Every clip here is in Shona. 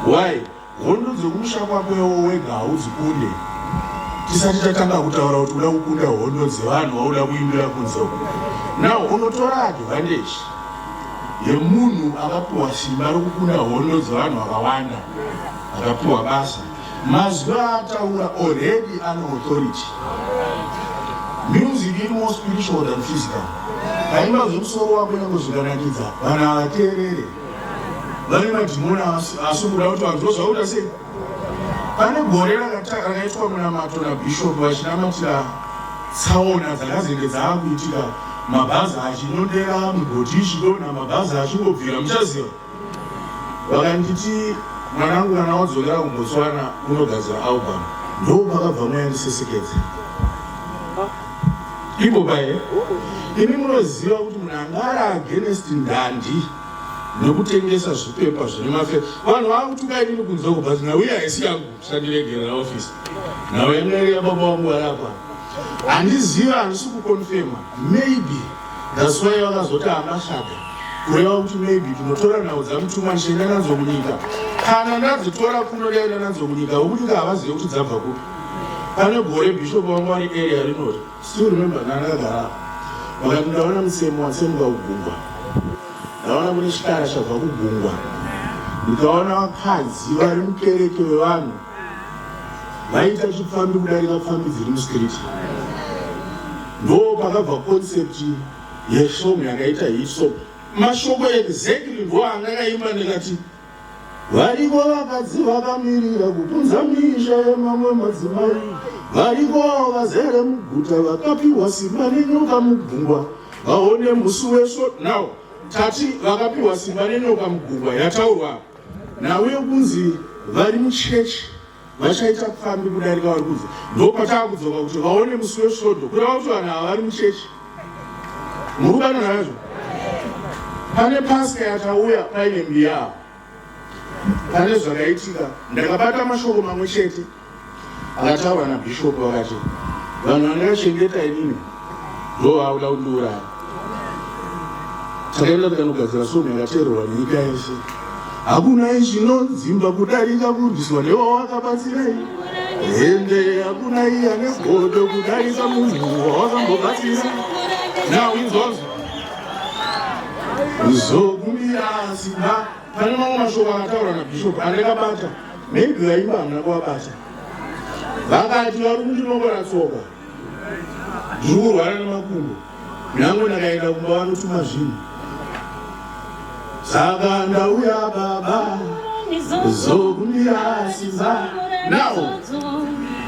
Why? Hondo dziri kumusha kwako iwo wega haudzikunde. Tisati tatanga kutaura kuti uda kukunda hondo dzevanhu wauda kuimbira kunze uko. Now unotora advantage yemunhu akapiwa simba rokukunda hondo dzevanhu vakawanda akapiwa basa. Mazwi aataura already ane authority. Music iri more spiritual than physical. Kaimba zvemusoro wako nyangwe zvikanakidza vanhu havateerere. vane madhimoni asi kuda kuti vanhu tozvaura sei pane gore rakaitwa munamato nabishop vachinamatira tsaona dzakazenge dzaakuitika mabhazi achinodera mugoti ichidonha mabhazi achingobvira muchaziva vakanditi mwanangu kana wadzokera kumbotswana unogadzira album ndoo pakabva mwayandisesekedza Iboba here? Imi munoziva kuti munhu anga ari against ndandi nokutengesa zvipepa zvine mafe vanhu vakutuka inini kunze uko but nhau iya haisi yangu sandiregerera office nhau yamwere yababa wangu varapa handizivi handisi kukonfema maybe thats why vakazoti ambashada kureva kuti maybe tinotora nhau dzamutuma ndichienda nadzo munyika kana ndadzitora kuno ndaenda nadzo munyika vokunyika havazive kuti dzabva kupi pane gore bishop vangu vari area rinoti still remember ndandagara vakati ndaona musemo watsemuka kugungwa ndaona kune chikara chabva kugungwa ndikaona vakadzi vari mukereke vevanhu vaiita chipfambi kudarika pfambi dziri mustreet ndo pakabva concept yesong yakaita hisop mashoko exactly ndo angakaimba ndikati Variko vakadzi vakamirira kupunza misha yemamwe madzimai. Variko vazere muguta vakapiwa simba nenyoka mugungwa. Vaone musi wesvo now tati vakapiwa simba nenyoka mugungwa yataurwa nawe kunzi vari muchechi vachaita pfambi kudarika vari kunze ndo pataa kudzoka kuti vaone musi wesvondo kureva kuti vanhu ava vari muchechi muri kubana nazvo pane paska yatauya paine mbiyaa pane zvakaitika ndakabata mashoko mamwe chete akataurwa nabhishopu vakati vanhu vandakachengeta inini Ndoo auda kundiuraya. Takaenda tikanogadzira somo yakateererwa nyika yese. Hakuna izvinodzimba kudarika kurwiswa newawakabatsirai. Hende hakuna iya negodo kudarika munhu wawakambobatsira. Now inzwazvo. Kuzokumbira simba pane mamwe mashoko akataura nabhishopu andakabata maybe vaimba hamuna kuvabata vakati vari kundinongora tsoka ndiri kurwara nemakumbo nyange ndakaenda kumba vanotuma zvinhu saka ndauya baba zokundirasisa now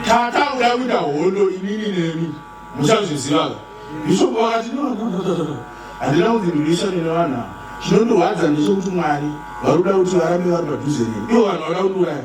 tata uda kuita hondo inini nemi muchazvizivaga bishop vakati handina kuti ndinoisa nene vanhu ava chinondirwadza ndechekuti mwari vari kuda kuti varambe vari padhuze neni ivo vanhu vada kundiuraya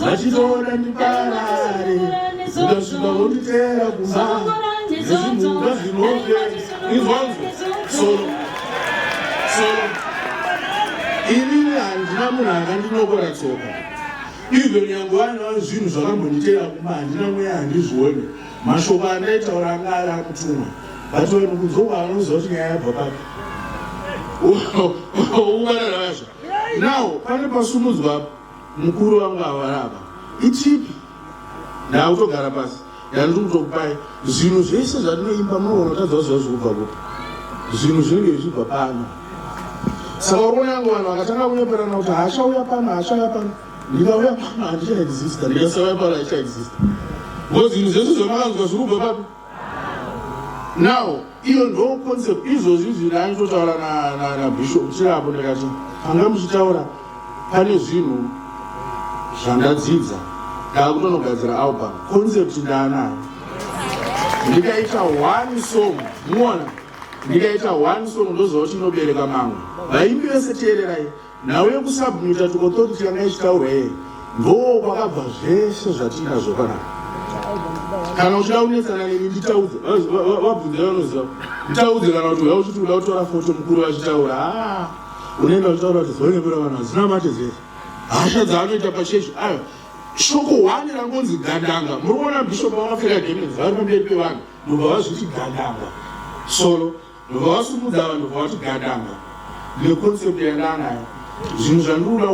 vachitoona ndiparare ndosvika vonditeera kumba nezvinhuka zvinove izvozvo soro soro inini handina munhu akandinokora tsoka izvo nyange vanava zvinhu zvakambonditeera kumba handina mweya handizvione mashoko andaitaura anga ari akutumwa but vanhu kunzokwa vanoziva kuti nyaya yabva papi uvarara vazvo now pane pasumudzwa Mukuru wangu awara apa. Itipi. Ndautogara pasi. Ndandiri kutokupai zvinhu zvese zvatinoimba munoona tadza zviva zvokubva kupi. Zvinhu zvinenge zvichibva pano. Saka uruona yangu vanhu vakatanga kunyeperana kuti haachauya pano haachauya pano. Ndikauya pano handichaexista. Ndikasauya pano haichaexista. Ngo zvinhu zvese zvamakanzwa zviri kubva papi. now iyo ndo concept izvozvi izvi raanitotaura nabishop chirapo ndikati panga muchitaura pane zvinhu zvandadzidza ndaakutonogadzira album concept ndaanayo ndikaita one song muona ndikaita one song ndoziva kuti inobereka mamwe vaimbi vese teererai nhau yekusubmita to authority yanga ichitaurwa yeye ndoo kwakabva zvese zvatiinazvo panapa kana uchida kunetsana neni nditaudze vabvunzira vanoziva nditaudze kana kuti uya uchiti uda kutora foto mukuru vachitaura ah, unoenda uchitaura kuti zoenepera vanhu hadzina mate zese hasha dzaanoita pachechi ayo shoko hwani rangonzi gandanga muri kuona bishop vakapfeka gemenzi vari pamberi pevanhu mubva vazviti gandanga solo ndobva wasumudza vanhu ndobva wati gadanga ndine concept yandanayo zvinhu zvandinoda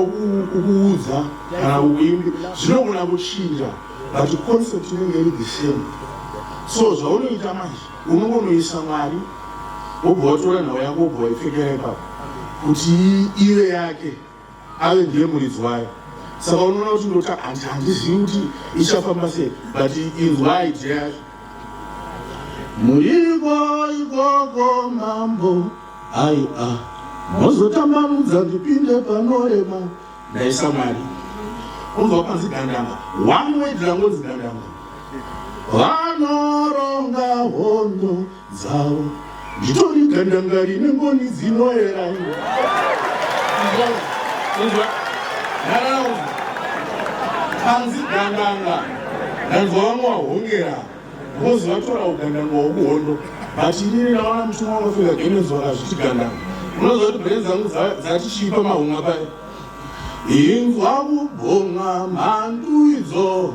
kukuudza kana kukuimbi zvinogona kuchinja but concept inenge iri the same so zvaunoita manje unongonoisa mwari wobva watora nhau yako wobva waipfekera ipapo kuti ive yake Ave ndiye muridzi wayo. Saka unoona kuti ndota handizivi kuti ichafamba sei but inzwa idea yacho. Muriko ikoko mambo ai a ah. mozotambanudza ndipinde panorema ndaisa mari unzwa panzi gandanga one way drangonzi gandanga vanoronga hondo dzavo nditori gandanga rine ngoni dzinoera nharaunda hanzi gandanga ndanzwa vamwe wahongera vozi vatora ugandanga wokuhondo but inini naona mutumwa unofika genenzi vakazviti gandanga unoziva kuti bheni dzangu dzatichiipa mahunga paye inzwa kubhonga mhandu idzo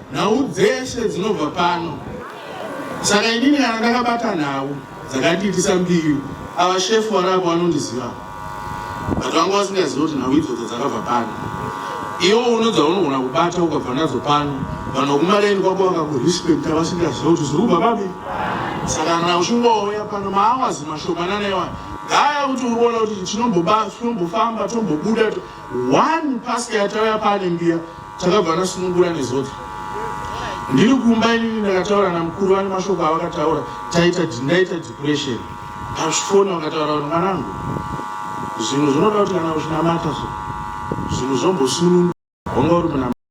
Nhau dzeshe dzinobva pano. Saka inini kana ndakabata nhau dzakandiitisa mbiru, ava shefu vari apo vanondiziva. But vanga vasingazivi kuti nhau idzodzo dzakabva pano. Iwo uno dzaunogona kubata ukabva nadzo pano, vanhu vokumareni kwako vakakurespekta vasingaziva kuti zviri kubva papi. Saka kana uchingouya pano maawazi mashomanana iwani, gaya kuti uri kuona kuti tinombofamba, tombobuda, to, one pastor yatauya pane mbiya takabva nasunungura nezodza ndiri kumba inini ndakataura namukuru vane mashoko avakataura taita ndaita depression azvifona vakataura kuti mwanangu zvinhu zvinoda kuti kana uchinamata zvinhu zvombosunungu honga uri munama